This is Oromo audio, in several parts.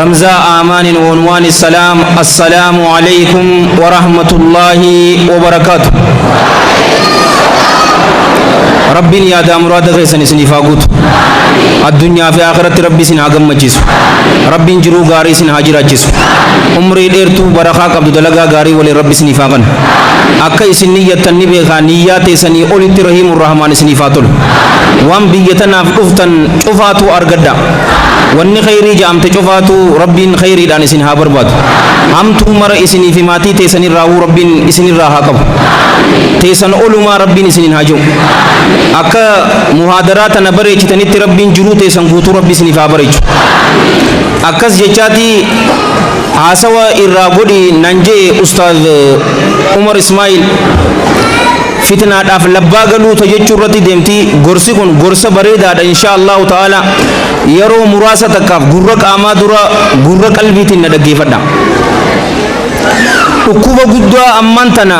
Ramzaa Aamaanin Woonwaan Issalaam Assalaamu Aleeykum Warahmatullaahi Wabarakaatu Rabbiin yaadaa muraada keessan isiniif haa guutu addunyaa fi akhiratti rabbi isin haa gammachiisu rabbiin jiruu gaarii isin haa jiraachisu umrii dheertuu barakaa qabdu dalagaa gaarii waliin rabbi isiniif haa kennu akka isin niyyattan ni beekaa niyyaa teessanii olitti rahiimu rahmaan isiniif haa tolu waan biyya tanaaf dhuftan cufaatu argadha Wanni kheyrii ja'amte cufaatuu Rabbiin kheyriidhaan isin haa barbaadu. Hamtuu mara isinii fi maatii teessan irraahuu Rabbiin isin irraa haa qabu. Teessan olumaa Rabbiin isiniin haa ji'u. Akka muhaadaraa tana bareechitanitti Rabbiin jiruu teessan guutuu Rabbi isiniif haa bareechu. Akkas jechaati haasawa irraa godhi nan je'e Ustaaz Umar Ismaa'il. fitnaadhaaf labbaa galuu ta jechuu irratti deemti gorsi kun gorsa bareedaadha inshaa allahu ta'ala yeroo muraasa takkaaf gurra qaamaa dura gurra qalbiitiin na dhaggeeffadha dhukkuba guddaa ammaan tana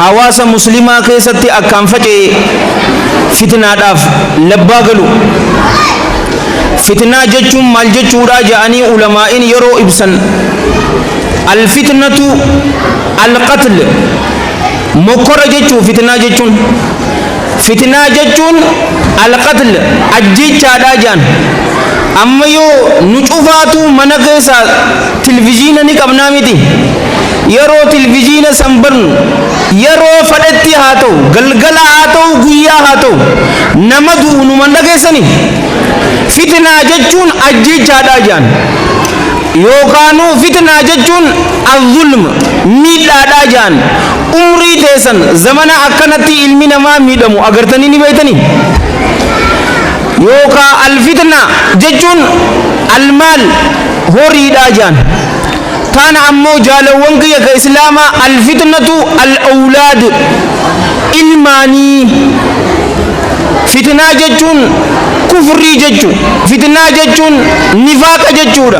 hawaasa muslimaa keessatti akkaan faca'e fitnaadhaaf labbaa galu fitnaa jechuun maal jechuudha ja'anii ulamaa'in yeroo ibsan alfitnatu alqatl Mokkora jechuun fitnaa jechuun Fitnaa jechuun Al-qatl ajjeechaadhaa je'an. Amma yoo nu cufaatuu mana keessaa tilviziina ni qabnaa miti? Yeroo tilviziina san bannu yeroo fadhetti haa ta'u, galgala haa ta'u, guyyaa haa ta'u nama du'u numa hin dhageessanii? Fitnaa jechuun ajjeechaadhaa je'an. Yookaanuu fitnaa jechuun Al-Zulm, miidhaadhaa ja'an. Umrii teessan zamana akkanatti ilmi namaa miidhamu agartanii ni beeytanii? Yookaa Al-Fitna jechuun Al-Maal, horiidhaa ja'an. Taan ammoo jaalawwan kiyya ka Islaamaa Al-Fitnatu Al-Awlaad, ilmaanii. Fitnaa jechuun kufrii jechu. Fitnaa jechuun nifaaqa jechuudha.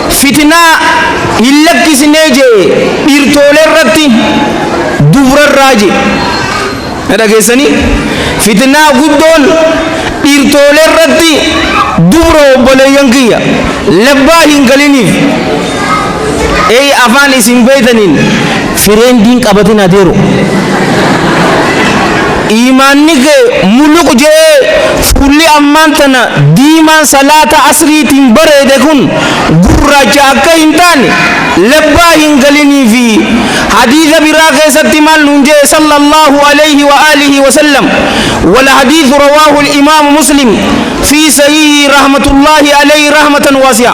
Fitinaa hin lakkisnee je'e dhirtoolee irratti dubra irraa je'e. Na dhageessanii? Fitinaa guddoon dhirtoolee irratti dubra obboleeyyan kiyya. Labbaa hin galiniif. Eey afaan isin beeytaniin. Fireendi hin qabatin adeero. Iimaanni kee muluq je'ee fuulli ammaan tana diimaan salaata asriitiin bareede kun gurraacha akka hin taane labbaa hin galiniifi hadiisa biraa keessatti maal nuun je'e sallallaahu aleyhi wa aalihi wasallam wal hadiisu rawaahu imaamu muslim fii sahiihii rahmatullaahi aleyhi rahmatan waasi'a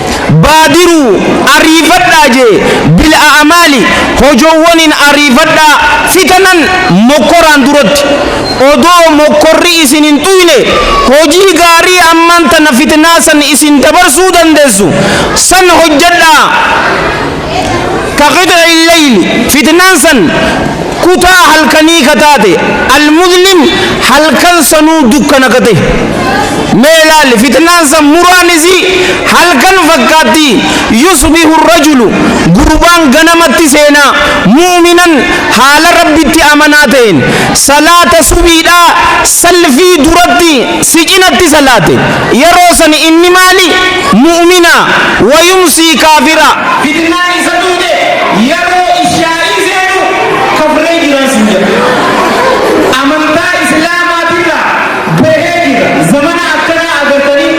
Baadiruu, Ariifadhaa jee, bil a'amaali, hojoowwaniin ariifadhaa, fitanan, mokkoraan duratti. Odoo mokkorri isin hin tuyne, hojii gaarii ammaan tana fitnaa san isin dabarsuu dandeessu, san hojjadhaa. kaqixci leyli fitnaan san kutaa halkanii ka taate almuzlim halkan sanuu dukkana ka tahe mee laali fitnaan san muraan isii halkan fakkaatti yusbihu rajulu gurbaan ganamatti seena mu'minan haala rabbitti amanaa taheen salaata subiidhaa salfii duratti si cinatti salaate yeroo san inni maali Mu'umina, wa yumsii kaafira. Fitnaa isa dhufte yaroo ishaa'ii seenu kafree jiraa sin jedha. Amantaa islaamaatirraa bahee jira. Zamana akkanaa agartanii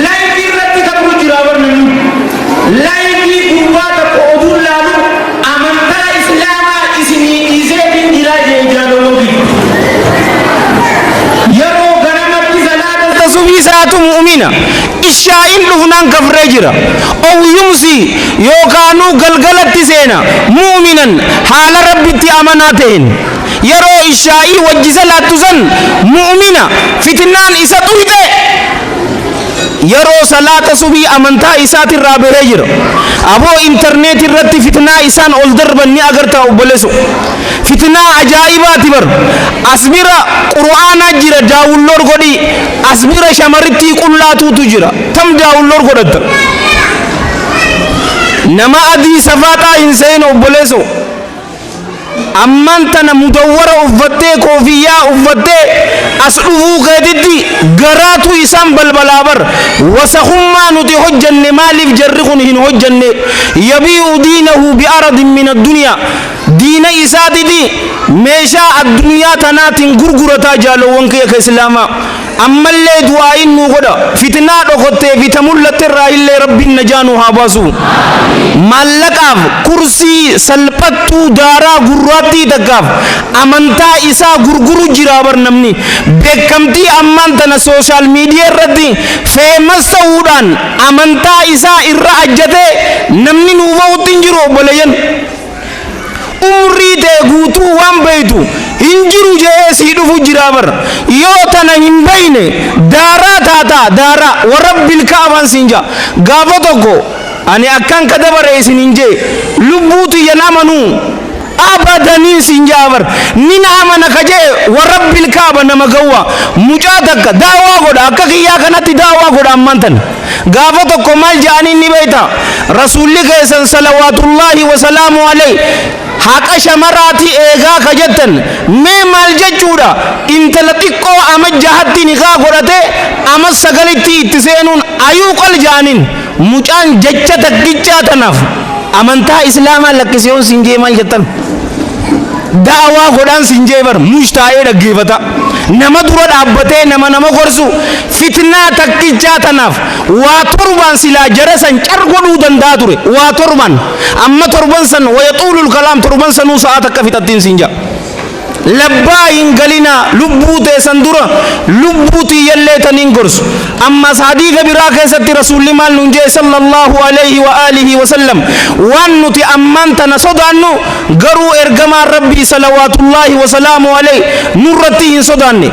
live irratti kafru jiraa bar namni. Live gurbaa takka oduun laalu Amantaa islaamaa isinii dhiiseetiin jiraa jeen jaaloloo giddu yeroo ganamatti salaata ta subii salaatu mu'umina ishaa'iin dhufnaan kafree jira ow yumsii yookaanuu galgalatti seena mu'uminan haala rabbitti amanaa ta'een yeroo ishaa'ii wajji salaattu san mu'umina fitnaan isa xuyxe Yeroo salaata subii amantaa isaati irraa bahee jira. Aboo internet irratti fitnaa isaan ol darban ni agartaa obboleso. Fitnaa ajaa'ibaati bar. As bira qur'aanaa jira daawunloor godhii. As bira shamarittii qullaa tuutu jira. Tam daawunloor godhatta. Nama adii safaaxaa hin sehin obboleso. Ammaan tana mudawwara uffattee koofiyyaa uffattee as dhufuu keetitti garaatu isaan balbalaa bar wasakhummaa nuti hojjanne maaliif jarri kun hin hojjanne yabii'u diinahu bi aradin min addunyaa diina isaatiti meeshaa addunyaa tanaatin gurgurataa jaalowwan kiyya ka islaamaa Ammallee du'aa'iin nuu godha. Fitnaa dhokottee fi ta mullatte irraa illee Rabbiin najaa nuu haa baasu. Maallaqaaf, kursii, salphattuu, daaraa, gurraattii takkaaf amantaa isaa gurguru jira bar namni. Beekkamtii ammaan tana social media irratti famous ta'uudhaan amantaa isaa irra ajjatee namni nuu bahutti hin jiru obboleeyyan. umrii tee guutuu waan beeytu hin jiru je'ee sii dhufu jiraa bar yoo tana hin beeyne daaraa taataa daaraa warabbil ka'abaan siin ja'a gaafa tokko ani akkaan ka dabare isin hin je'e lubbuu tiyyan amanuu abadaniin siin ja'a bar nin amana ka je'e warabbil ka'aba nama gawwaa mucaa takka daawaa godha akka kiyyaa kanatti daawaa godha ammaan tana Gaafa tokko maal ja'aniin ni beeyta? Rasuulli keessan salawaatullaahi wa salaamu aleyh haqa shamaraati eegaa ka jettan mee maal jechuudha? Intala xiqqoo ama jahatti nikaah godhatee ama sagalitti itti seenuun ayuu qal ja'aniin. Mucaan jecha takkichaa tanaaf amantaa islaamaa lakkisi yoon siin jee maal jettan? Da'awaa godhaan siin jee bar mush taa'ee dhaggeefata. Nama dura dhaabbatee nama nama gorsu Fitnaa takkichaa tanaaf waa torbaan silaa jara san car godhuu danda'a ture. Waa torban. Amma torban san wayaxuulul kalaam torban sanuu sa'aa takka fixattiin siin ja'a. Labbaa hin galinaa lubbuu teessan dura lubbuu tiyyallee taniin gorsu. Ammaas hadiisa biraa keessatti Rasuulli maal nuun jee sallallahu alayhi wa aalihi wa sallam waan nuti ammaan tana sodaannu garuu ergamaan Rabbii salawaatullaahi wa salaamu alayhi nurratti hin sodaanne.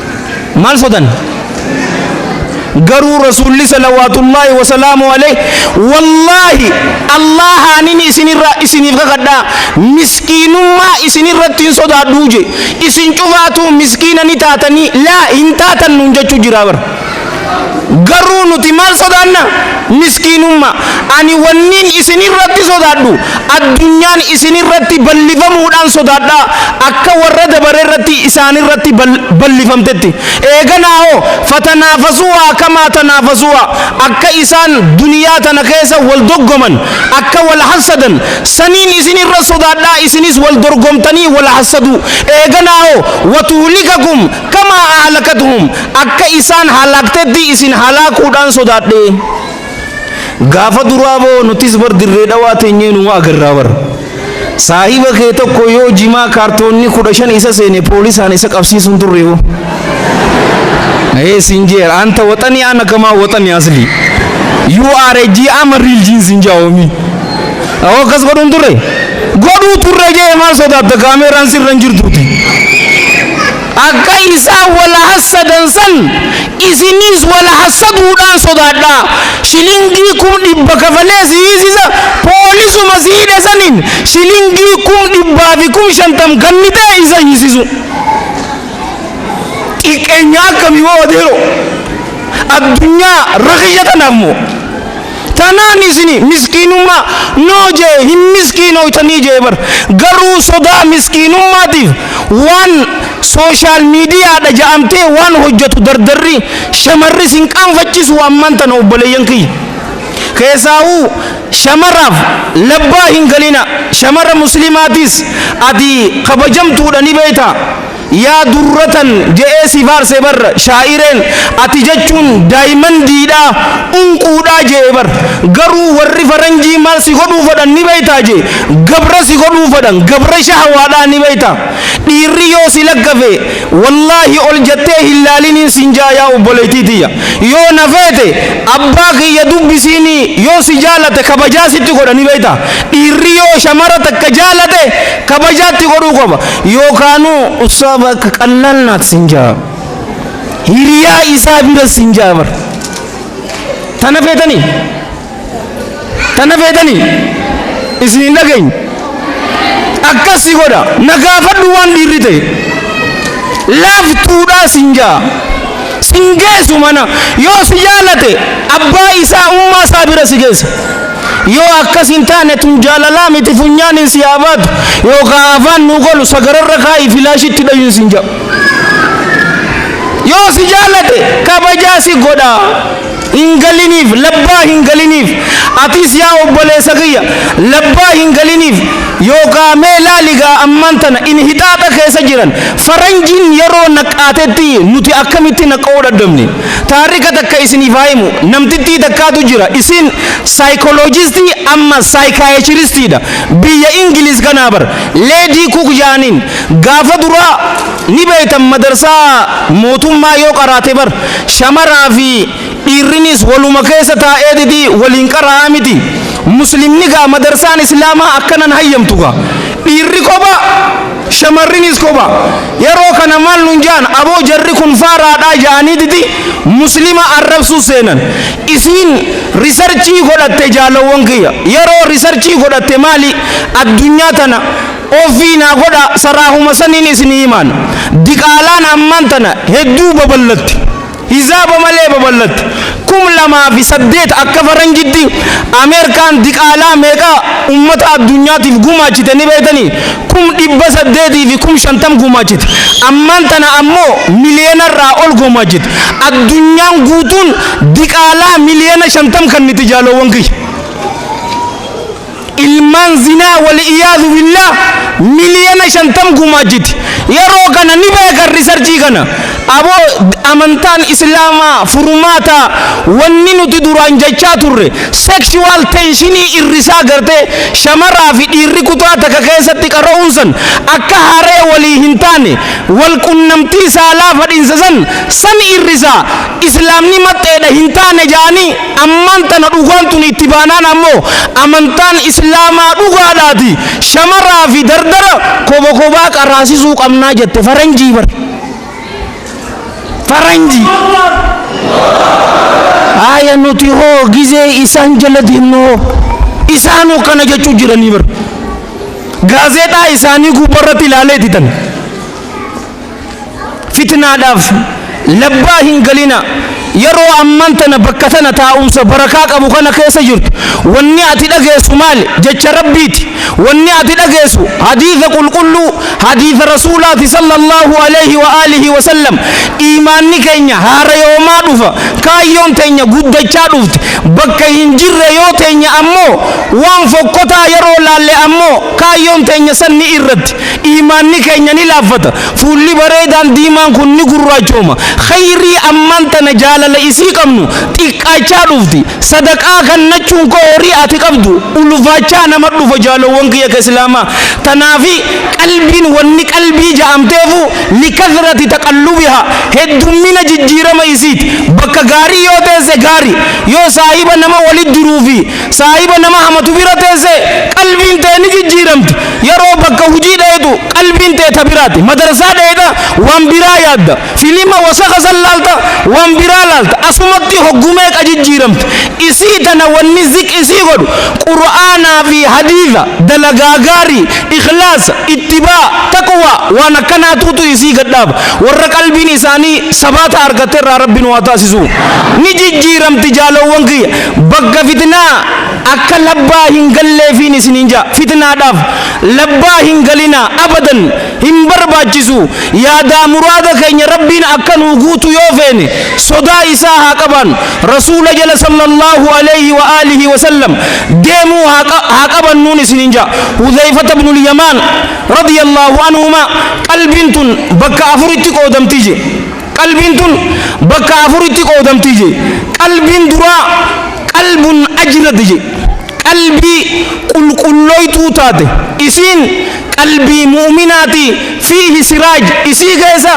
Maal sodan? Garuu Rasuulli salawaatullaahi wasalaamu alayhi wallaahi Allaahaanin isinirra isiniif kakadhaa miskiinummaa isinirratti hin sodaadhuu je isin cufaatuu miskiina ni taatanii laa hin taatan nuun jechuu jiraa bar. Garuu nuti maal sodaanna? Miskiinummaa. Ani wannin isin irratti sodaadhu, addunyaan isin irratti ballifamuudhaan sodaadha, akka warra dabare irratti isaan irratti ballifamtetti. Eeganaa hoo, fatanaafasuuhaa kamaa tanaafasuuhaa, akka isaan duniyaa tana keessa wal doggoman, akka wal hassadan, saniin isin irra sodaadha, isinis wal dorgomtanii wal hassaduu. Eeganaa hoo, watuhlikakum Kamaa ahlakatuhum akka isaan halaaktetti isin halaakuudhaan sodaadhe. Gaafa duraa boo nutis bar dirree dhawaa teenyee numa agarraa bar. Saahiba kee tokko yoo jimaa kaartoonni kudha shan isa seene poolisaan isa qabsiisuun turre boo. Ee siin jeer anta waxanii ana kamaa waxanii aslii. You are a GM real jeans in Xiaomi. Awoo akkas godhuun turre? Godhuu turre jee maal sodaatta kaameeraan sirra hin jirtuuti. Akka isaan wal hassadan san isiniis wal hassaduudhaan sodaadhaa. Shilingii kum dhibba kafalee si hiisisa poolisuma si hidhe saniin shilingii kum dhibbaa fi kum shantam kannitee isa hiisisu. Xiqqeenya akkamii waa odeeroo. Addunyaa rakisha tanaaf moo. Tanaan isini miskiinummaa noo jee hin miskiinooytanii jee bar garuu sodaa miskiinummaatiif waan social media dha ja'amtee waan hojjatu dardarri shamarri sin qaanfachisuu ammaan tana obboleeyyan kiyya keessaahuu shamaraaf labbaa hin galinaa shamara muslimaatiis ati kabajamtuudha ni beeytaa Yaa durratan je'ee si faarse bar shaa'ireen ati jechuun daayimandiidha, unquudha je'e bar. Garuu warri faranjii maal si godhuu fadhan ni beeytaa je, gabra si godhuu fadhan gabra shahawaadhaa ni beeyta. Dhiirri yoo si laggafe wallaahi ol jattee hin laaliniin siin ja'a yaa obboleeytii tiyya. Yoo na feete abbaa kiyya dubbisiinii yoo si jaalate kabajaa sitti godha ni beeyta. Dhiirri yoo shamara takka jaalate kabajaa itti godhuu qaba. yookaanuu ustaaza akka qallaan naat sin jaa hiriyaa isaa bira sin jaa bar tana feetanii tana feetanii isin hin dhageenye akkasi godha na gaafadhu waan dhiirri ta'e laaftuudhaa sin jaa sin geessu mana yoo si jaalate abbaa isaa ummaa isaa bira si geessa Yoo akkas hin taane tun jaalalaa miti funyaaniin si haa baatu yookaa afaan nuu qolu sagararra kaa'ii filaashii itti dhayuun sin ja'a. Yoo si jaalate kabajaa si godha. Hin galiniif labbaa hin galiniif atiis yaa obboleessa kiyya labbaa hin galiniif yookaa mee laali gaa ammaan tana inhixaaxa keessa jiran faranjiin yeroo naqqaatetti nuti akkamitti naqqa'uu dhadhabne. Taarika takka isiniif haa himu. Namtittii takkaatu jira. Isiin saayikoloojistii amma saayikaayachiristiidha. Biyya Ingiliiz kanaa bar. Leedii Kuk jaaniin. Gaafa duraa ni beektan madarsaa mootummaa yoo qaraate bar. Shamaraa fi dhiirrinis waluma keessa taa'eetiti waliin qaraa'a miti. Muslimni gaa madarsaan Islaamaa akkanan hayyamtu gaa. Dhiirri kopha. Shamarrinis kopha. Yeroo kana maal nun ja'an aboo jarri kun faaraadhaa ja'aniititi Muslima arrabsuu seenan. Isiin risarchii godhatte jaalawwan kiyya. Yeroo risarchii godhatte maali addunyaa tana offii naa godhaa saraahuma saniin isinii himaan. Diqaalaan ammaan tana hedduu babal'atte. Hizaaba malee babal'atte. 2008 akka faranjitti Ameerkaan diqaalaa meeqa ummata addunyaatiif gumaachite ni beektanii? Kum 800 fi kum 50 gumaachite. Ammaan tana ammoo miliyoona irraa ol gumaachite. Addunyaan guutuun diqaalaa miliyoona 50 kanniti jaaloowwan kiyya. ilmaan zinaa wali'iyaazu billaah miliyoona shantam gumaachiti. Yeroo kana ni beekan risarchii kana. Aboo amantaan islaamaa furmaata wanni nuti duraan jechaa turre sexual tenshinii irrisaa gartee shamaraa fi dhiirri kutaa takka keessatti qara'uun san akka haree walii hin taane wal qunnamtii saalaa fadhinsa san san irrisaa islaamni maxxeedha hin taane ja'anii Ammaan tana dhugaan tuni itti baanaan ammoo amantaan Islaamaa dhugaadhaati shamaraa fi dardara koba kobaa qaraasisuu qabnaa jette faranjii bar faranjii haaya nuti hoo gizee isaan jala deemnu hoo isaanu kana jechuu jiranii bar gaazeexaa isaanii gubbarratti ilaalee didan Fitnaadhaaf labbaa hin galinaa. Yeroo amman tana bakka tana taa'umsa barakaa qabu kana keessa jirtu wanni ati dhageessu maali? Jecha Rabbiiti. Wanni ati dhageessu hadiisa qulqulluu, hadiisa Rasuulaati sallallaahu aleyhi wa aalihi wa sallam. Iimaanni keenya haarayoomaa dhufa. Kaayyoon teenya guddachaa dhufti. Bakka hin jirre yoo teenye ammoo waan fokkotaa yeroo laalle ammoo kaayyoon teenya san ni irratti. Iimaanni keenya ni laaffata. Fuulli bareedaan diimaan kun ni gurraachooma. Khayrii ammaan tana jaalala isii qabnu xiqqaachaa dhufti. Sadaqaa kannachuun koo horii ati qabdu ulfaachaa nama dhufa jaalowwan kiyya ka Islaamaa. Tanaafi qalbiin wanni qalbii ja'amteefu likathrati taqallubihaa heddummina jijjiirama isiiti. Bakka gaarii yoo teesse gaari. Yoo saahiba nama walitti jiruu fi Saahiba nama hamatu bira teesse qalbiin tee ni jijjiiramti. Yeroo bakka hujii dheeyxu qalbiin tee ta biraati. Madarsaa dheeyxa waan biraa yaadda. Filima wasaka san laalta waan biraa laalta. Asumatti hoggu meeqa jijjiiramti. Isii tana wanni zik isii godhu Qur'aanaa fi hadiitha, dalagaa gaarii, ikhlaasa, ittibaa, taqwaa waan akkanaatuutu isii gad dhaaba. Warra qalbiin isaanii sabaata argatte irraa Rabbi nu haa taasisu. Ni jijjiiramti jaalowwan kiyya. Bagga fitnaa akka labbaa hin galleefiin isiniin ja'a. Fitnaadhaaf labbaa hin galinaa abadan hin barbaachisu. Yaadaa muraada keenya Rabbiin akka nuu guutu yoo feene sodaa isaa haa qabaannu. Rasuula jala sallallahu aleyhi wa aalihi wa sallam deemuu haa qabannuun isiniin ja'a. Hudhayfata ibnul Yamaan radiyallahu anhumaa qalbiin tun bakka afuritti qoodamti je. Qalbiin tun bakka afuritti qoodamti je. Qalbiin duraa qalbun ajrad je. Qalbii qulqullooytuu taate. Isiin qalbii mu'minaati fiihi siraaj isii keessa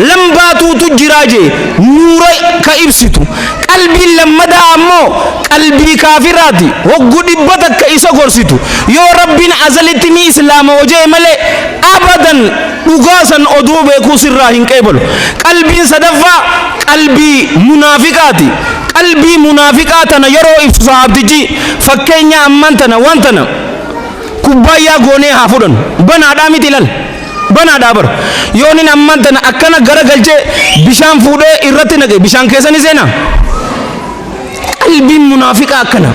lambaatuutu jira je, nuura ka ibsitu. Qalbiin lammadaa ammoo qalbii kaafiraati hoggu dhibba takka isa gorsitu yoo Rabbiin azalitti ni islaama oje'e malee abadan Dhugaa san odoo beekuu sirraa hin qeebalu. Qalbiin sadaffaa qalbii munaafiqaati. Qalbii munaafiqaa tana yeroo ibsu sahaabtichi fakkeenya ammaan tana waan tana kubbaayyaa goonee haa fudhannu. Banaadhaa miti lal. Banaadhaa bar. Yoonin ammaan tana akkana gara galchee bishaan fuudhee irratti naqe bishaan keessa ni seenaa? Qalbiin munaafiqaa akkana.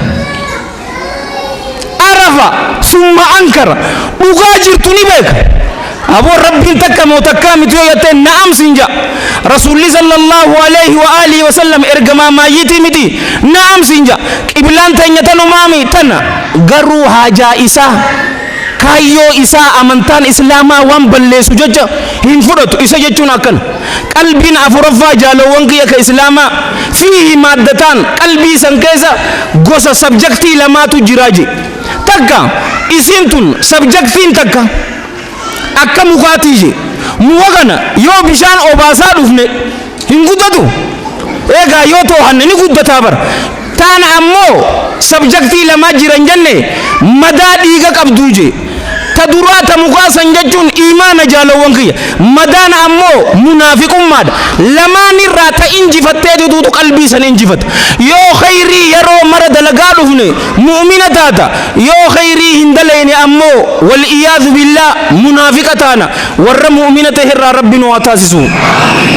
arafa summa ankara dhugaa jirtu ni beeka aboo rabbiin takka moo takkaa miti yoo jattee na'am sin ja'a rasuulli sallallahu alaihi wa alihi wa sallam ergamaa maayyitii miti na'am sin ja'a qiblaan teenya tanumaami tana garuu haajaa isaa Kaayyoo isaa amantaan islaamaa waan balleessu jecha hin fudhatu. Isa jechuun akkana, Qalbiin afuraffaa jaalowwan kiyya ka islaamaa, fiihi maaddataan, qalbii san keessa gosa, subject, lamaatu jira je. Takka, isiin tun, subject, n takka, akka mukaatii je. Muka kana yoo bishaan obaasaa dhufne, hin guddatu. Eegaa yoo toohanne ni guddataa bar. Taan ammoo sabjaktii lamaa jiran jenne madaa dhiiga qabduu je. Ta duraa ta mukaa san jechuun iimaana jaalawwan kiyya. Madaan ammoo munaafiqummaadha. Lamaanirraa ta injifattee dutuutu qalbii san injifata. Yoo kheyrii yeroo mara dalagaa dhufne mu'mina taata. Yoo kheyrii hin dalayne ammoo wal iyaadhu billaah munaafiqa taana. Warra mu'umina tahe irraa Rabbi nu haa taasisu.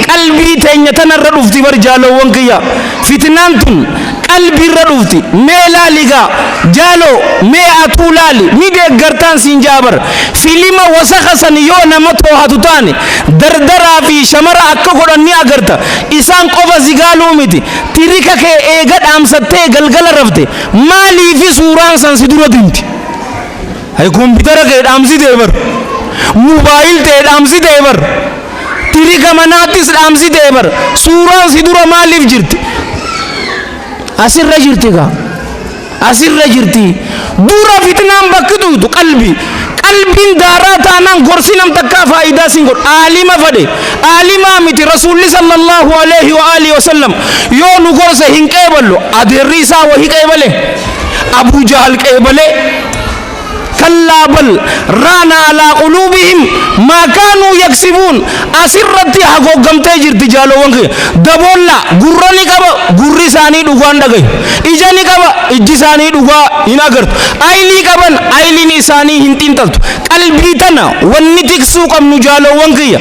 Qalbii teenya tana irra dhufti bar jaaloowwan kiyya. Fitnaan tun qalbii irra dhufti. Mee laali gaa jaaloo mee atuu laali ni deeggartaan siin ja'a bar. Filima wasakha san yoo nama toohatu taane dardaraa fi shamara akka godhan ni agarta. Isaan qofa si gaaluu miti. Tirika kee eega dhaamsattee galgala rafte maaliifi suuraan san si dura dimti? Hay kompitara kee dhaamsitee bar. Mobile tee dhaamsitee bar. Tirika manaattis dhaamsitee bar. Suuraan si dura maaliif jirti? Asirra jirti kaa. Asirra jirti. Dura fitnaan bakki dhuytu qalbi. Qalbiin daaraa taanaan gorsi nam takkaa faayidaa sin godhu. Aalima fade. Aalimaa miti Rasuulli sallallahu alaihi wa alihi wa sallam yoo nu gorse hin qeeballu. Adeerri isaa wahi qeebale. Abuu Jahal qeebale. kallaa bal raana alaa quluubihim maa kaanuu yaksibuun asirratti hagooggamtee jirti jaaloowwan kiyya daboollaa gurra ni qaba gurri isaanii dhugaan dhagayu ija ni qaba ijji isaanii dhugaa hin agartu aylii qaban ayliin isaanii hin xiinxaltu qalbii tana wanni tiksuu qabnu jaaloowwan kiyya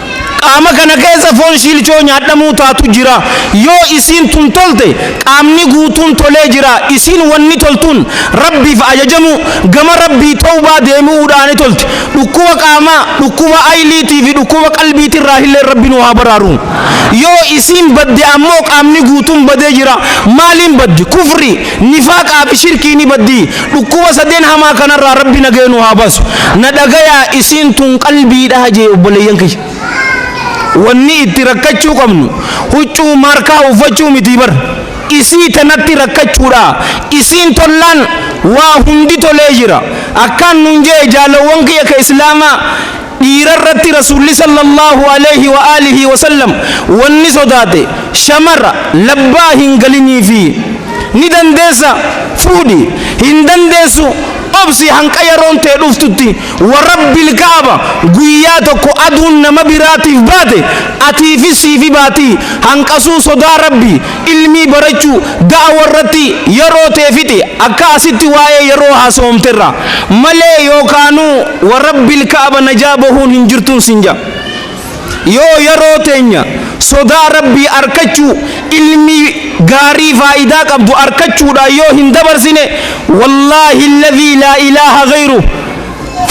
Qaama kana keessa foon shiilchoo nyaadhamuu taatu jira. Yoo isiin tun tolte qaamni guutuun tolee jira. Isiin wanni toltuun Rabbiif ajajamuu, gama Rabbii tawbaa deebi'uudhaani tolti. Dhukkuba qaamaa, dhukkuba ayliitii fi dhukkuba qalbiitirraahilleen Rabbi nu haa baraaru. Yoo isiin badde ammoo qaamni guutuun badee jira. Maaliin baddi? Kufrii, nifaaqaa fi shirkiini baddi. Dhukkuba sadeen hamaa kanarraa Rabbi nagaya nu haa baasu. Na dhagayaa isiin tun qalbiidha jee obboleeyyan kiyya. Wanni itti rakkachuu qabnu huccuu maarkaa uffachuu mitii bar. Isii tanatti rakkachuudha. Isiin tollaan waa hundi tolee jira. Akkaan nun jee jaalawwan kiyya ka Islaamaa Dhiira irratti Rasuulli sallallaahu aleeyhi wa aalihii wasallam wanni sodaate, shamara, labbaa hin galiniifii. Ni dandeessa? Fuudhi. Hin dandeessu? Obsi hanqa yaroon tee dhuftutti. Wa Rabbil ka'aba, guyyaa tokko aduun nama biraatiif baate, atiifis siifi baatii. Hanqasuu sodaa Rabbii. Ilmii barachuu ga'a warratti yeroo tee fixi akka asitti waa'ee yeroo haasawamte irra malee yookaanuu wa rabbil ka'aba najaa bahuun hin jirtuun sin ja yoo yeroo teenya sodaa rabbii arkachuu ilmii gaarii faayidaa qabdu arkachuudhaan yoo hin dabarsine wallaahi alladhii laa ilaaha gayruh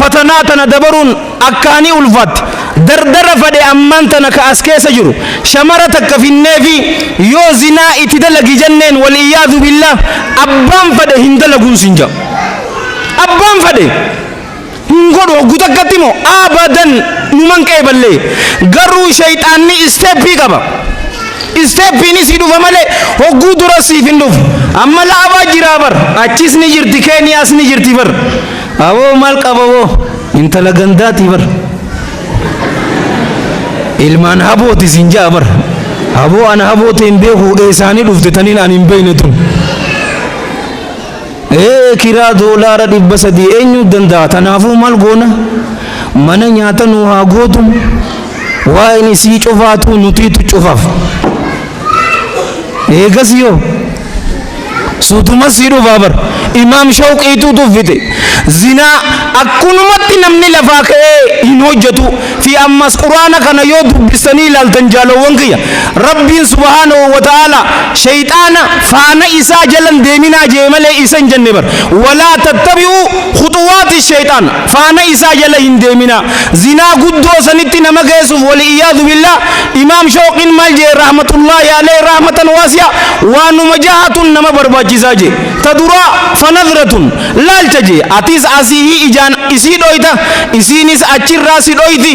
Fatanaa tana dabaruun akkaanii ulfaatte. Dardara fadhe ammaan tana ka as keessa jiru shamara takka finneefii yoo zinaa itti dalagi jenneen wal iyyaadhu billaah abbaan fadhe hin dalaguun siin ja'a. Abbaan fadhe hin godhu hoggu takkatti moo abadan numan qeeballee garuu sheyxaanni isteeppii qaba. Isteeppiin isii dhufa malee hogguu duras siif hin dhufu. Amma laafaa jiraa bar achis ni jirti keeniyaas ni jirti bar Aboo maal qaba boo intala gandaatii bar ilmaan habooti siin ja'a bar aboo ana haboo ta'e hin beeku eessaanii dhufte taniin ani hin beekne tun ee kiraa doolaara dhibba sadii eenyu danda'a tanaafuu maal goona mana nyaata nuu haa gootu waa'een isii cufaatuu nutiitu cufaaf eegas yoo Suutuma sii dhufaa bar. Imaam Shawqiituu tuffite. Zinaa akkunumatti namni lafaa ka'ee hin hojjatu fi ammas quraana kana yoo dubbistanii ilaaltan jaalowwan kiyya Rabbiin subhaanahu wa ta'aalaa shayxaana faana isaa jalan deeminaa jee malee isa hin jenne bar. Walaa tattabi'uu khuxuwaati shayxaana. Faana isaa jala hin deeminaa. Zinaa guddoo sanitti nama geessuuf wal iyaadu billaah Imaam Shooqiin maal je'e rahmatullaahi aleyh rahmatan waasi'a waanuma jahatu nama barbaachisaa je'e. Ta duraa, fanadratun, laalcha je'e. Atis asiihii ijaan isii dhooyta, isiinis achirraa si dhooyti.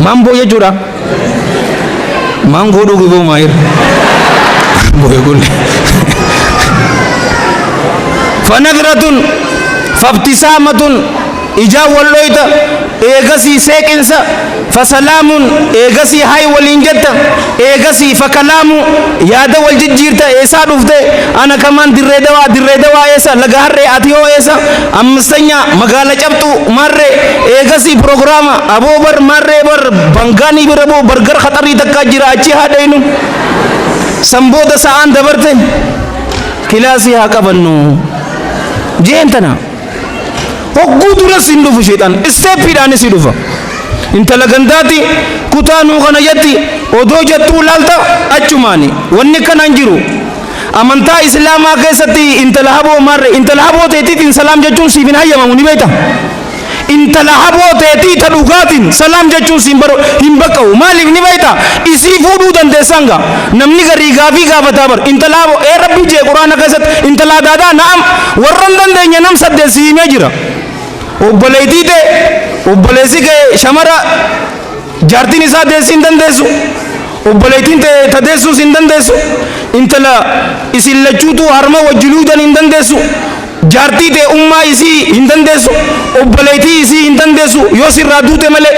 Mamboo jechuudha. Mangoo dhugi boo maayir. Mangoo eeguun. Fanagratun fabtisaamatun ijaan wal dhoyta eegasii seeqinsa fasalaamun eegasii hay waliin jetta eegasii fakalaamu yaada wal jijjiirta eessaa dhufte ana kamaan dirree dawaa dirree dawaa eessa laga harree ati hoo eessa 5ffaa Magaala Cabxuu Maarree Eegasii Prograama Aboo Bar Maarree Bar Bangaa Ni Bira Boo Bargar Khaxarii Takkaa Jira Achii Haa Dhaynu San Booda Sa'aan Dabarte Kilaasii Haa Qabannu Jeen Tana Hogguu Duras Hin Dhufu Sheexaan Isteeppiidhaanis Hin Dhufa Intala Gandaati Kutaa Nuu Kana Jatti Odoo Jattuu Laalta Achumaani Wanni Kanaan Jiru Amantaa Islaamaa keessatti intala haboo maarre intala haboo teetiitiin salaam jechuun siif hin hayyamamu ni beekta? Intala haboo teetii ta dhugaatiin salaam jechuun siin bar hin baqqa'u maaliif ni beekta? Isii fuudhuu dandeessaan gaa namni garii gaafii gaafataa bar intala haboo ee rabbi jee quraana keessatti intala adaadaa na'am warra hin dandeenye nam saddeet sii himee jira obboleettii tee obboleessi kee shamara Jaartiin isaa deessii hin dandeessu, obboleettiin tee ta deessuus hin dandeessu, intala isin lachuutuu harma wajji luudan hin dandeessu, jaartii tee ummaa isii hin dandeessu, obboleettii isii hin dandeessu yoo sirraa duute malee.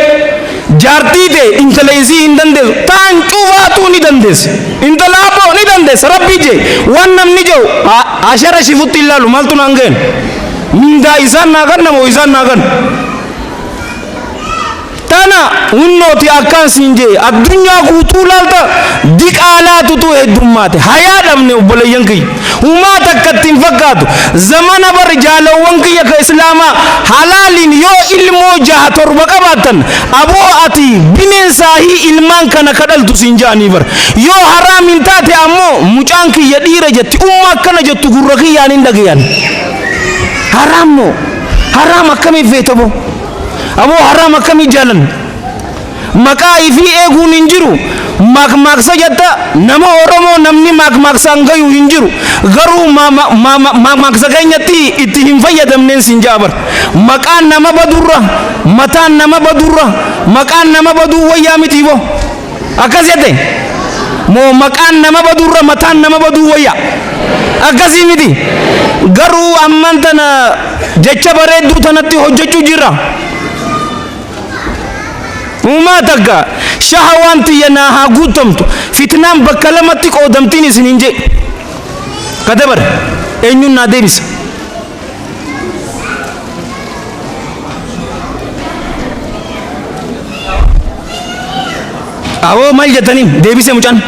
Jaartii tee intala isii hin dandeessu, taan cufaatuu ni dandeessi. Intala abboo ni dandeessa, Rabbii jee waan namni je'u haa sharashifutti hin laalu, maaltu naan gayan? Mindaa isaan naa kanna moo isaan naa kanna? Tana hunnooti akkaan siin je'e addunyaa guutuu laalta diqaalaatutu heddummaate hayaa dhabne obboleeyyan kiyya humaa takka itti hin fakkaatu zamana bar jaalawwan kiyya ka islaamaa halaaliin yoo ilmoo jaha torba qabaattan aboo ati bineensaahii ilmaan kana ka dhaltu siin ja'anii bar yoo haraamiin taate ammoo mucaan kiyya dhiira jetti umma akkana jettu gurra kiyyaan hin dhagayan haraam moo haraam akkamiin feetaboo Aboo haraam akkami jaalan maqaa ifii eeguun hin jiru maakmaaksa jatta nama oromoo namni maakmaaksaan gayu hin jiru garuu maakmaaksa keenyatti itti hin fayyadamneen sin ja'a bar maqaan nama badurra mataan nama badurra maqaan nama baduu wayyaa mitiiboo. Akkas jette moo maqaan nama baduurra mataan nama baduu wayya? Akkasii miti. Garuu amman tana jecha bareedduu tanatti hojjechuu jirra. Uumaa takka shahawaan tiyya naa haa guuttamtu fitnaan bakka lamatti qoodamtiin isiniin jee. Kadabar eenyuun naa deebisa? Awoo maal jettaniin deebise mucaan.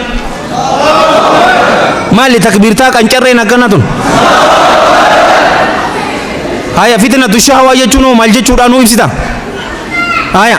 Maali takbiirtaa qancarreen akkana tun. Haya fitina tushaa waa jechuun hoo maal jechuudhaa nuu ibsita. Haya.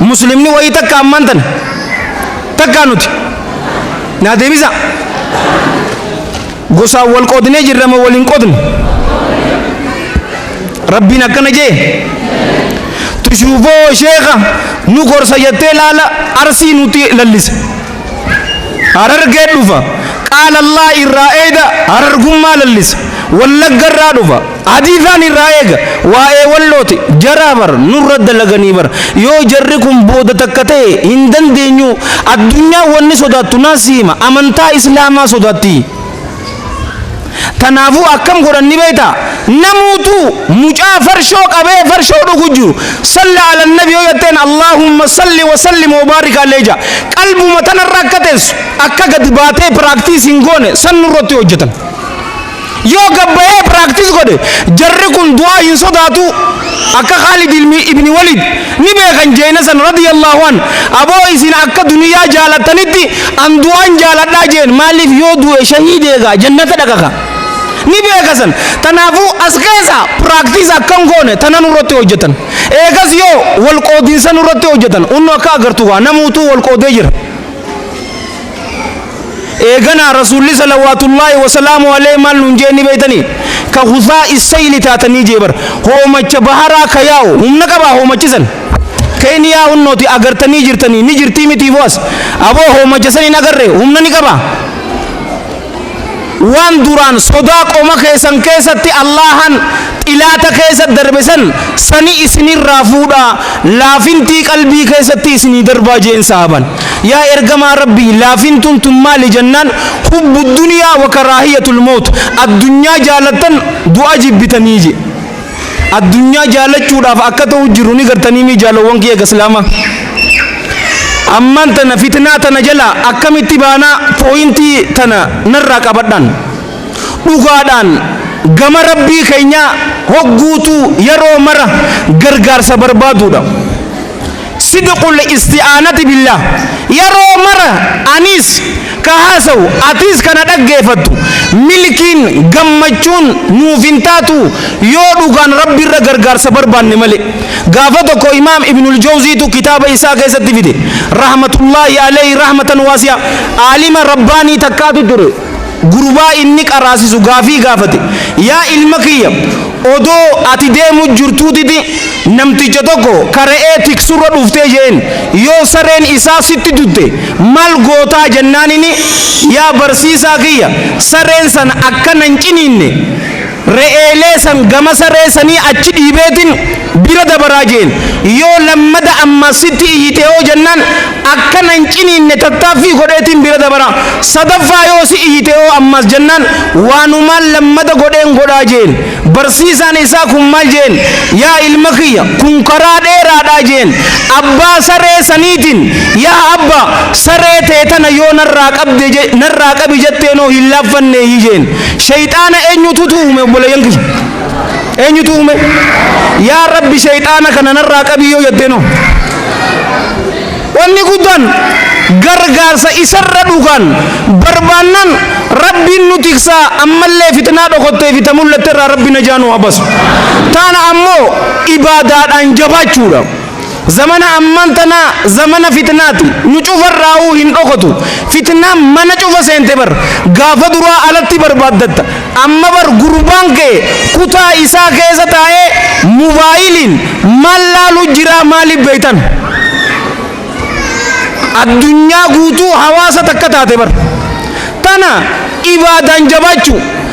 Muslimni wayii takka ammaan tana takkaa nuti naa deebisaa gosaan wal qoodnee jirra moo wal hin qoodne rabbiin akkana jee tushuufoo sheeka nu gorsa jettee laala arsii nuti lallisa harargee dhufa qaala allaa irraa eeyda harargummaa lallisa wallagga irraa dhufa Hadiisaan irraa eega. Waa'ee wallooti. Jaraa bar nurra dalaganii bar. Yoo jarri kun booda takka ta'e hin dandeenyuu. Addunyaan wanni sodaattu naa si hima. Amantaa Islaamaa sodaatti. Tanaafuu akkam godhan ni beekta? Namuutuu mucaa farshoo qabee farshoo dhugu jiru. Salla ala nabi yoo jetteen Allaahumma salli wa sallim wa baarik alee ja'a. Qalbuma tanarra akka teessu akka gadi baatee piraaktiis hin goone san nurratti hojjetan. Yoo gad bahee practice godhe jarri kun du'aa hin sodaatu akka Khaalid ilmi ibni Waliid ni beekan jeeyna san radiyallahu an aboo isin akka duniyaa jaalattanitti an du'aan jaaladhaa jeen maaliif yoo du'e shahiid eegaa jannata dhaqa ka ni beeka san tanaafu as keessa practice akka hin goone tana nurratti hojjetan eegas yoo wal qoodinsa nurratti hojjetan unnu akka agartu kaa namuutuu wal qoodee jira eeganaa rasuulli salawaatullaahi wasalaamu alee maal nuun jee ni beeytanii ka husaa issayli taatanii jee bar hoomacha baharaa ka yaa'u humna qabaa hoomachisan keeniyaa hunnooti agartanii jirtanii ni jirtii mitii boas aboo hoomacha san hin agarre humna ni qabaa Waan duraan sodaa qoma keessan keessatti Allaahaan xilaata keessa darbe san sani isinirraa fuudhaa, laafintii qalbii keessatti isinii darbaa je'een sahaaban. Yaa ergamaa Rabbii laafintuun tun maali jennaan hubbu dunyaa wa karaahiyatul mawt, addunyaa jaalattan du'a jibbitanii je'e. addunyaa jaallachuudhaaf akka ta'u jiru ni gartaniimii jaalowwan kiyya gaslaama ammaan tana fitnaa tana jala akkamitti baanaa pooyintii tana narraa qabadhaan dhugaadhaan gama rabbii keenyaa hogguutuu yeroo mara gargaarsa barbaaduudha Sidqul isti'aanati billaah, Yeroo mara anis ka haasawu, atis ka na dhaggeeffattu, milkiin, gammachuun, nuuf hin taatu yoo dhugaan Rabbiirra gargaarsa barbaanne malee. Gaafa tokko Imaam Ibnul Jawziitu kitaaba isaa keessatti fide, rahmatullaahi aleyhi rahmatan waasi'a, Aalima Rabbaanii takkaatu ture, Gurbaa inni qaraasisu gaafii gaafate, Yaa ilma kiyya, odoo ati deemu jirtuutiti namticha tokko ka re'ee tiksurra dhufte je'een. Yoo sareen isaa sitti dutte maal gootaa? Jennaanini, Yaa barsiisaa kiyya, sareen san akka na hin ciniinne, Re'eelee san gama saree sanii achi dhiibeetin bira dabaraa je'een. Yoo lammada ammaas sitti iyyite hoo jennaan, akkana hin ciniinne tattaaffii godheetin bira dabara. Sadaffaa yoo si iyyite hoo ammaas jennaan, waanumaan lammada godheen godhaa je'een. Barsiisaan isaa kun maal je'een, Yaa ilma kiyya! Kun karaa dheeraadhaa je'een. Abbaa saree saniitin, Yaa abbaa! Saree tee tana yoo narraa qabde, narraa qabi jetteen hoo hin laaffanneeyii je'een. Sheyxaana eenyututu uume obboleeyyan kiyya? Eenyutu uume? Yaa Rabbi sheyxaana kana narraa qabii yoo jettee noo. Wanni guddaan gargaarsa isarra dhugaan barbaannaan Rabbiin nu tiksaa ammallee fitnaa dhokottee fi ta mul'atte irraa Rabbi najaa nu haa basu. Taana ammoo ibaadaadhaan jabaachuudha. Zamana amman tanaa zamana fitnaati nu cufarraahuu hin dhokotu fitnaan mana cufa seente bar gaafa duraa alatti barbaaddatta amma bar gurbaan kee kutaa isaa keessa taa'ee mubaayiliin maal laalu jiraa maalif beeytan addunyaa guutuu hawaasa takka taate bar tana ibaadaan jabaachuu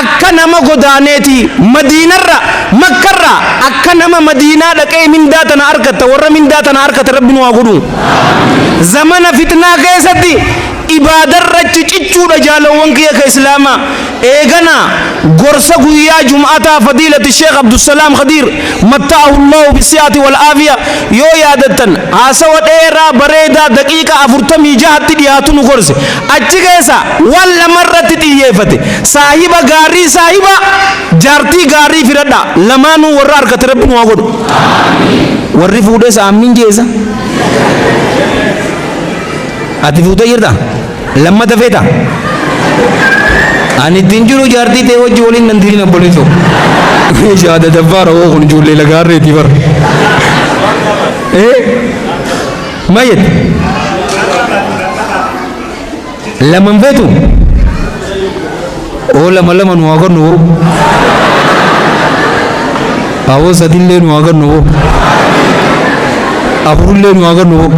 Akka nama godaaneeti madiinarra, makkarra, akka nama madiinaa dhaqee mindaa tana arkatta warra mindaa tana arkatan rabbi nu haa godhu. Zamana fitnaa keessatti ibaadarrachi cichuudha jaalowwan kiyya ka islaama. Eegana gorsa guyyaa jum'ataa fadiilati sheekh abdusalaam khadiir matta'ahullahu bisi'ati wal aafiya yoo yaadattan haasawa dheeraa bareedaa daqiiqa 46tti dhihaatu nu gorse. Achi keessaa waan lama irratti xiyyeefate, Saahiba gaarii saahiba, jaartii gaarii filadhaa. Lamaanuu warra argate Rabbi nu haa godhu. Warri fuudhes Aammiin jeesa. Ati fuutee jirta? Lammata feeta? Ani ittiin jiru jaartii ta'e wajji waliin nan diriin abboleessoo. Shaada dabbaara hoo kun ijoollee lagaarreetii bara. Eh? Ma jette? Lama hin feetu? Oo lama lama nu haa godhnu boo. Aboo sadillee nu haa godhnu boo. Afurullee nu haa godhnu boo.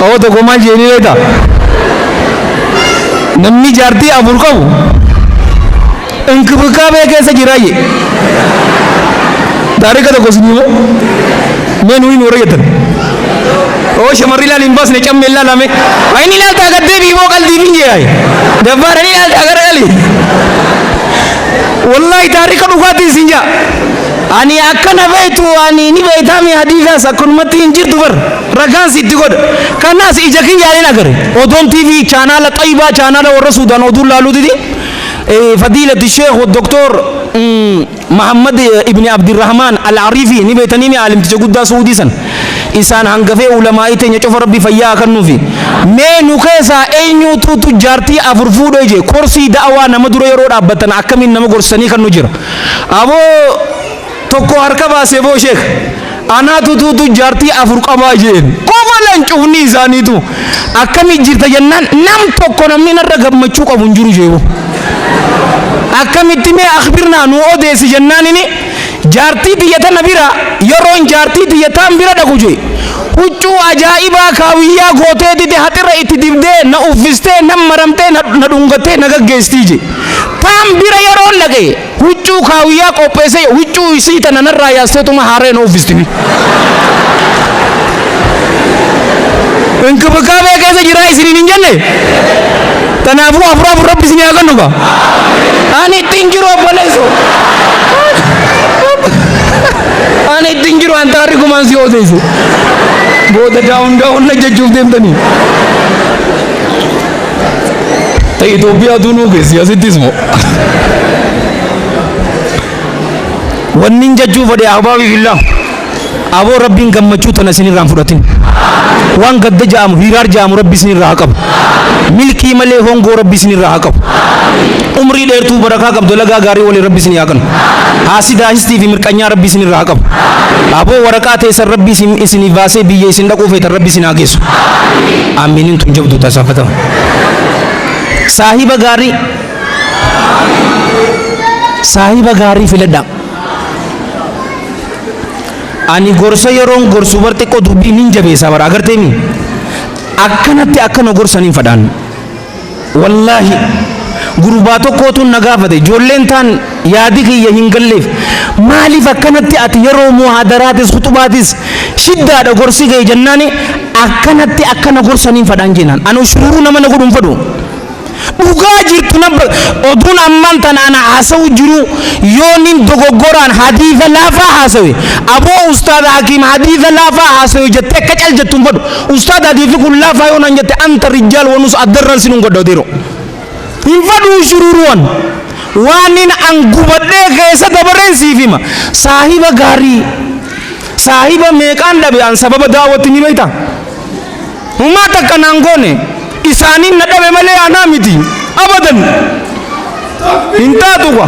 Aboo tokko maal jeenii reeta? Namni jaartii afur qabu inkibikaabee keessa jiraa jee taarika tokko isin himoo mee nuyi nu warra jettan oo shamarri ilaali hin baasne camme ilaalame inni ilaaltaa gad deebi'i moo qalbii hin jee dabbaadhan ilaaltaa gara gali wallahi taarika dhugaatti isin jaa ani akkana beektu ani ni beektaami hadiisaas akkanumatti hin jirtu bar ragaan sitti godha kanaas ija kiyyaaleen agare odoon tv chaanaala xayibaa chaanaala warra suudaan oduu laaluutiti Fadiilati Sheekh Doktoor Mahammad Ibni Abdirahmaan Al-Ariifi ni beeytaniimi Aalimticha guddaa Su'uudii san. Isaan hangafee Ulamaa'ii teenya cofa Rabbi fayyaa haa kannuufi. Mee nu keessaa eenyuutuutu jaartii afur fuudhee jee koorsii da'awaa nama dura yeroo dhaabbattan akkamiin nama gorsitanii kannu jira? Aboo! Tokko harka baasee boo sheekh anaatu tuutu jaartii afur qabaa jeen kofalan cufnii isaaniitu akkami jirta jennaan nam tokko namni narra gammachuu qabu hin jiru jeebo akkamitti mee akhbirnaa nuu odeessi jennaan ini jaartii tiyya tana bira yeroon jaartii tiyya taan bira dhaqu jee huccuu ajaa'ibaa kaawiyyaa gootee dide haxirra itti dibdee na uffistee na maramtee na dhungattee na gaggeestii jee taan bira yeroon dhaqe Huccuu kaawiyyaa qopheessee huccuu isii tana narraa yaasteetuma haaraya na uffistimi. Inkibikaabee keessa jiraa isiniin hin jenne? Tanaafuu afur afur rabbi isinii haa kennu gaa. Ani ittiin jiru obboleesso. Ani ittiin jiru an taarri kumaan si odeessu. Booda daawun daawun na jechuuf deemtanii. Ta Itoophiyaa tunuu keessi asittis moo. Wannin jechuu fedhe ahbaabii fillah aboo rabbiin gammachuu tana isinirraa hin fudhatin. Waan gadda ja'amu hiiraar ja'amu rabbi isinirraa haa qabu. Milkii malee hongoo rabbi isinirraa haa qabu. Umrii dheertuu barakaa qabdu lagaa gaarii waliin rabbi isinii haa kennu. Haasidaa histii fi mirqanyaa rabbi isinirraa haa qabu. Aboo waraqaa teessan rabbi isin isiniif baasee biyya isin dhaquu feetan rabbi isin haa geessu. Aamiinin tun jabduu taa saafatama. Saahiba gaarii Saahiba gaarii filadhaa. Ani gorsa yeroon gorsu bar xiqqoo dubbii nin jabeessaa bara agarteemi. Akkanatti akka na gorsan hin fadhaan. Wallaahi gurbaa tokkootuun na gaafate ijoolleen taan yaadi kiyya hin galleef maaliif akkanatti ati yeroo muhaadaraatis khuxubaatis shiddaadha gorsi kee jennaani akkanatti akka na gorsaniin fadhaan jeenaan ani ushururuu nama na godhu hin fadhu dhugaa jirtu nan ba- oduun ammaan tan ana haasa'u jiru yoo nin dogoggoraan hadiisa laafaa haasawe aboo ustaada hakiim hadiisa laafaa haasawe jettee akka cal jettu hin fadhu Ustaad atii fi kun laafaa yoo naan jette anta rijjaal wanus addarraan sinun godha odeeroo. Hin fadhuu shururuwan. Waanin an gubadhee keessa dabareen siif hima. Saahiba gaarii. Saahiba meeqaan dhabe an sababa daawwatti ni beektaa? Humaa takka naan goone isaaniin na dhabe malee anaa miti. Abadan. Hin taatu kwa.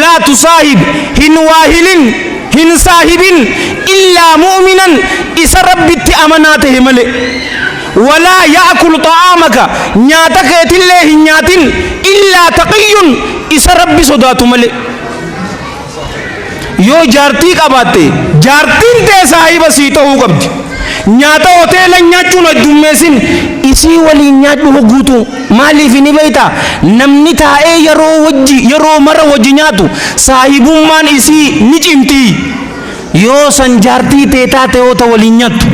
Laa tusaahib, hin waahilin, hin saahibin, illaa mu'minan, isa Rabbitti amanaa tahe malee. Walaa ya'kul xa'aamaka, nyaata keetillee hin nyaatin, illaa taqiyyun, isa Rabbi sodaatu malee. Yoo jaartii qabaatte, jaartiin tee saahiba sii tahuu qabdi. Nyaata hoteelan nyaachuun heddummeessin, isii waliin nyaadhu hogguutuu. Maaliif ni beektaa? Namni taa'ee yeroo wajji, yeroo mara wajji nyaatu, saahibummaan isii ni cimti. Yoo san jaartii tee taate hoo ta waliin nyaattu?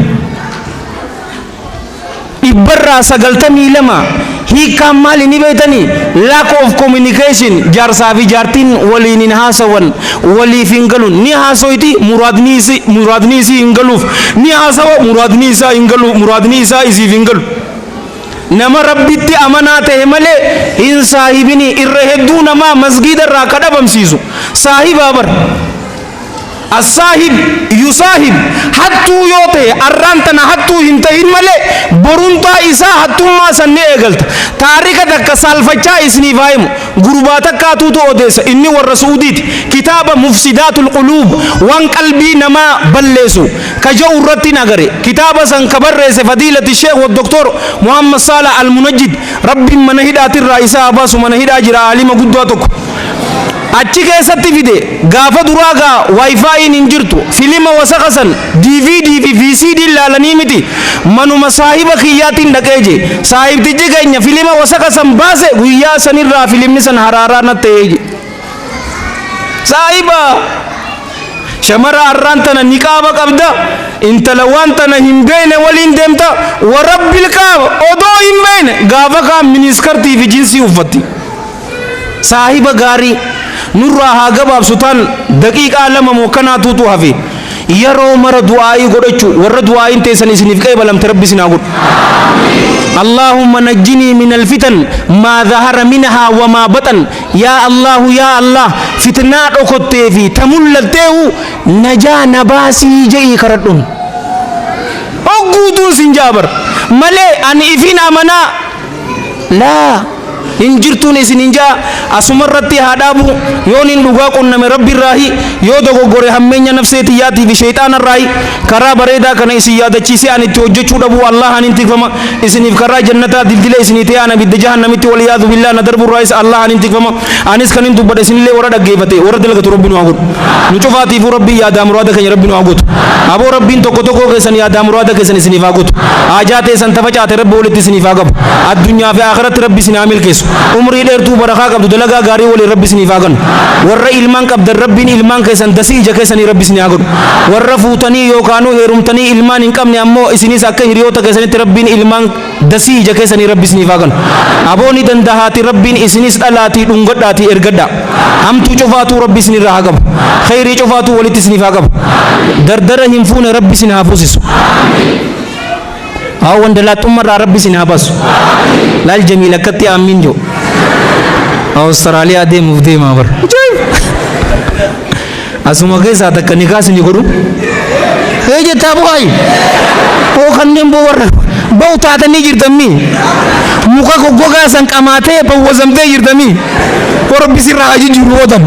Dhibbarraa 92 Hiikkaan maali ni beektanii? Lack of communication Jaarsaa fi jaartiin waliin hin haasawan, waliif hin galu. Ni haasoyti, muraadni isi, muraadni isii hin galuuf. Ni haasawa, muraadni isaa hin galu, muraadni isaa isiif hin galu. Nama Rabbitti amanaa tahe malee hin saahibinii. Irra hedduu namaa masgiida irraa ka dhabamsiisu saahibaa bar. Assaahib yusaahib hattuu yoo tahe arraan tana hattuu hin tahin malee boruntaa isaa hattummaa san ni eegalta. Taarika takka saalfachaa isniif haa himu. Gurbaa takkaatuutu odeessa. Inni warra Su'udiiti. Kitaaba Mufsidaatul Quluub, Waan Qalbii Namaa Balleesu, ka ja'u irrattin agare. Kitaaba san ka barreesse Fadiilati Sheikh wa Doktoor Muhammad Saalah Al-Munajjid, Rabbiin mana hidhaatirraa isa haa baasu, mana hidhaa jira aalima guddaa tokko. Achi keessatti fide. Gaafa duraa gaa Wi-Fi'n hin jirtu. Filima wasaka san DVD fi VCD'n laalanii miti, manuma saahiba kiyyaatiin dhaqee je. Saahibtichi keenya filima wasaka san baase, guyyaa sanirraa filimni san haraaraa natti ta'e je. Saahiba! Shamara arraan tana niqaaba qabda, intala waan tana hin beeyne waliin deemta, wa Rabbil kaaba odoo hin beeyne gaafa kaan miniskartii fi jinsii uffatti. Saahiba gaarii! Nurraa haa gabaabsu taan daqiiqaa lama moo kanaatuutu hafe. Yeroo mara du'aa'ii godhachuu, warra du'aa'iin teessan isiniif qeebalamte Rabbi isin haa godhu. Allaahumma najjinii minal fitan maa zahara minahaa wa maa baxan. Yaa Allaahu yaa Allaah fitnaa dhokottee fi ta mul'atteehu najaa na baasii je'ii karadhuun. Hogguu du'u sin ja'a bar. Malee ani ifiin amanaa laa hin jirtuun isiniin ja'a asumarratti haa dhaabu yooniin dhugaa qunname rabbirraahi yoo dogoggore hammeenya nafsee tiyyaatiifi sheyxaanarraahi Karaa bareedaa kana isin yaadachiisee ani itti hojjachuu dhabuu Allaahaanin tikfama, isiniif karaa jannataa dildila isinii ta'ee an abidda jahannamitti wal-iyaadhu-billaah na darbuu irraayis Allaahaanin tikfama. Anis kanin dubbadhe isinillee warra dhaggeefate, warra dalagatu Rabbi nu haa godhu. Nu cufaatiifuu Rabbiin yaadaa muraada keenya Rabbi nu haa guutu. Aboo Rabbiin tokko tokkoo keessan yaadaa muraada keessan isiniif haa guutu. Haajaa teessan ta facaate Rabbi walitti isiniif haa qabu. Addunyaa fi Aakhiratti Rabbi isin haa milkeessu. Umrii dheertuu barakaa qabdu dalagaa gaarii waliin Rabbi isiniif haa kennu. Warra ilmaan qabdan Rabbiin ilmaan keessan dasii ija keessanii Rabbi isinii haa godhu. Warra fuutanii yookaanuu heerumtanii ilmaan hin qabne ammoo isinis akka hiriyoota keessanitti Rabbiin ilmaan dasii ija keessanii Rabbi isiniif haa kanu. Aboo ni dandahaatii Rabbiin isinis dhalaatii dhungadhaatii ergadhaa. Hamtuu cufaatuu Rabbi isinirraa haa qabu. Kheyrii cufaatuu walitti isiniif haa qabu. Dardara hin fuune Rabbi isin haa fuusisu. Haa wandalaaxxumma irraa rabbi isin haa basu. Laal jamiil akkatti aammiin jiru. Awustiraaliyaa deemuuf deemaa bar. Asuma keessaa takka nikaa isin godhu. Hee jettaa bu'aayi. Hoo kanneen boo warra ba'u taatanii jirtammii. Muka goggogaa san qamaatee bawwazamtee jirtammii. Warra bisirraa ajijjiiru ootan.